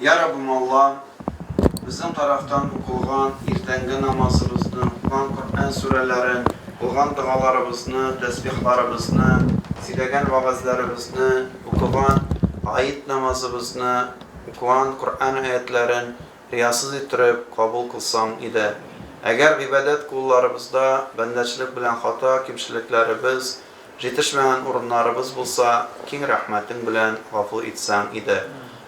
Йа Раббым Аллам, безнең тарафтан укылган иртәнге намазыбызны, укыган Коръән сүрәләрен, кылган догаларыбызны, тәсбихларыбызны, сөйләгән вәгазьләребезне, укыган гает намазыбызны, укыган Коръән аятьләрен риясыз иттереп кабул кылсаң иде. Әгәр гыйбадәт кулларыбызда бәндәчлек белән хата, кимчелекләребез, Җитешмәгән урыннарыбыз булса, киң рәхмәтең белән гафу итсәң иде.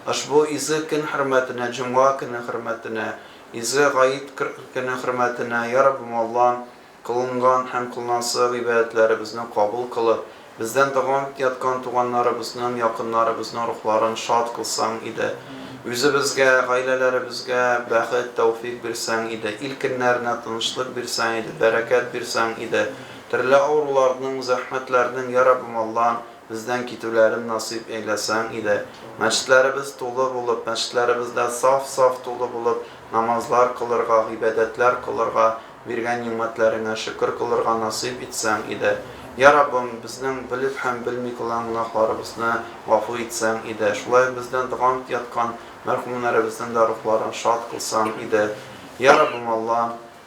Ошбу изге көн хөрмәтенә, җомга көне хөрмәтенә, изге гает көне хөрмәтенә, Йа Раббым Аллам, кылынган һәм кылынасы гыйбадәтләребезне кабул кылып, бездән дәвам итеп яткан туганнарыбызның, якыннарыбызның рухларын шат кылсаң иде. Үзебезгә, гаиләләребезгә бәхет, тәүфыйк бирсәң иде. Ил-көннәренә тынычлык бирсәң иде, бәрәкәт бирсәң иде. Төрле авыруларның, зәхмәтләрнең, йа Раббым Аллам, бездән китүләрен насыйп әйләсәң иде. Мәчетләребез тулы булып, мәчетләребездә саф-саф тулы булып намазлар кылырга, гыйбадәтләр кылырга, биргән нигъмәтләреңә шөкер кылырга насыйп итсәң иде. Йа Раббым, безнең белеп һәм белми кылган гөнаһларыбызны гафу итсәң иде. Шулай ук бездән догамт яткан мәрхүмнәребезнең дә рухларын шат кылсаң иде. Йа Раббым Аллам!